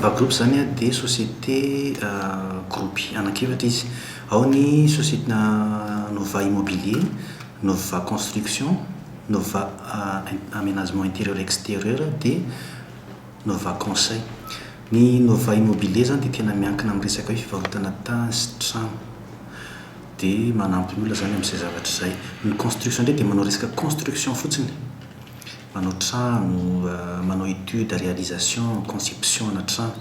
Nova Group izany dia société gropy anankiefatra izy. Ao ny société Nova Immobilier, Nova Construction, Nova Aménagement Intérieur Extérieur dia Nova Conseil. Ny Nova Immobilier izany dia tena miankina amin'ny resaka hoe fivarotana tany sy trano. dia manampy ny olona izany amin'izay zavatra izay. Ny construction indray dia manao resaka construction fotsiny, manao trano, manao étude, réalisation, conception-na trano.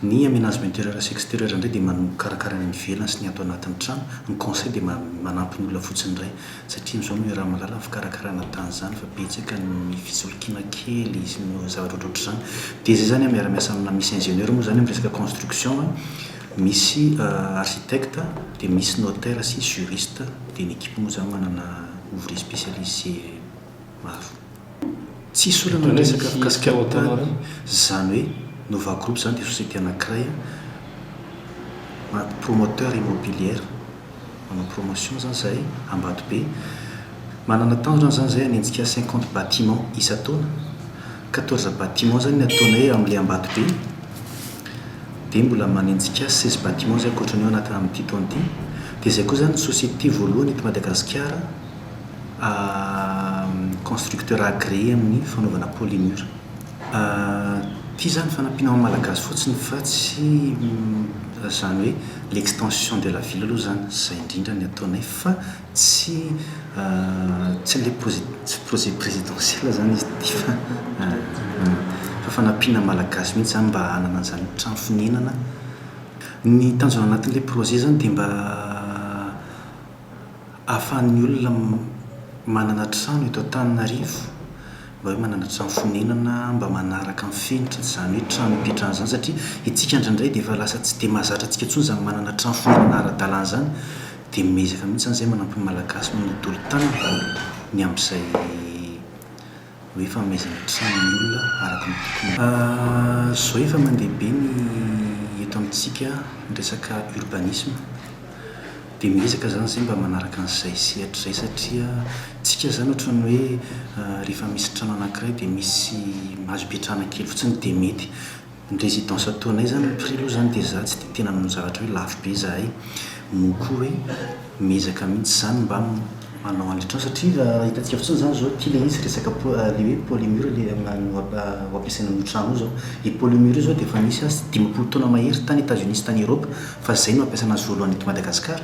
Ny aménagement intérieur sy extérieur indray dia man- mikarakara ny any ivelany sy ny ato anatin'ny trano. Ny conseil dia ma- manampy ny olona fotsiny indray, satria amin'izao no iaraha mahalala ny fikarakarana tany izany fa betsaka ny fisolokiana kely sy ny zavatra ohatrohatr'izany. Dia izay izany an, miara-miasa amina, misy ingénieur moa izany amin'ny resaka construction an. Misy architecte dia misy notaire sy juriste dia ny equipe moa zany manana ouvrier specialise maro. Tsisy olana ny resaka fikasika ny tany zany hoe nova group zany dia société anakiray an promoteur immobilière manao promotion zany zahay ambatobe manana tanjona zany zahay hanenjika cinquante bâtiments isa-taona. Quatorze bâtiments izany ny ataonay hoe amin'ilay Ambatobe dia mbola manenjika seize bâtiments izay ankoatra an'io anaty amin'ity taona ity. Dia izay koa izany ny société voalohany eto Madagasikara constructeur agréé amin'ny fanaovana polymure. Ity izany fanampiana ho an'ny Malagasy fotsiny fa tsy izany hoe l'extension de la ville aloha izany, izay indrindra ny ataonay fa Tsy tsy le projet présidentiel zany izy ity fa fa fanampiana ny Malagasy mihitsy zany mba hanana an'izany trano fonenana. Ny tanjona anatin'ilay projet zany dia mba ahafahan'ny olona manana trano eto Antananarivo, mba hoe manana trano fonenana mba manaraka ny fenitra tsy izany hoe trano hipetrahana izany satria isika indraindray dia efa lasa tsy dia mahazatra antsika intsony izany manana trano fonenana ara-dalàna izany. Dia miezaka mihitsy zany zay manampy ny Malagasy manolotolo tanana ny amin'izay hoe fanomezana trano ny olona araka ny tokony. Zao efa mandeha be ny eto amintsika ny resaka urbanisme dia miezaka zany zay mba manaraka an'izay sehatra izay satria tsika zany ohatran'ny hoe rehefa misy trano anankiray dia misy azo ipetrahana kely fotsiny dia mety Ny residence ataonay zany ny prix aloha zany dia za tsy dia tena manao zavatra hoe lafo be zahay, moa koa hoe miezaka mihitsy zany mba manao an'le trano satria raha hitantsika fotsiny zany zao ty le izy resaka po- le hoe polymur le am- no ap- ho ampiasaina amin'io trano io zao, io polymur io zao dia efa nisy azy dimampolo taona mahery tany Etats-Unis sy tany Europe fa zay no nampiasana azy voalohany eto Madagasikara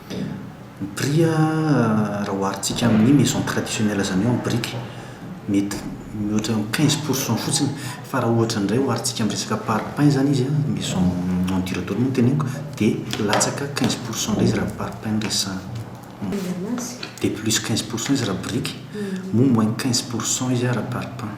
Ny prix a raha oharintsika amin'ny maison traditionnelle zany hoe en brique mety mihoatra ny quinze pour cent fotsiny fa raha ohatra indray oharintsika amin'ny resaka parpaing zany izy an, maison en dur dôle no teneniko dia latsaka quinze pour cent indray izy raha parpaing no resahana. Dia plus quinze pour cent izy raha brique moa moins quinze pour cent izy raha parpaing.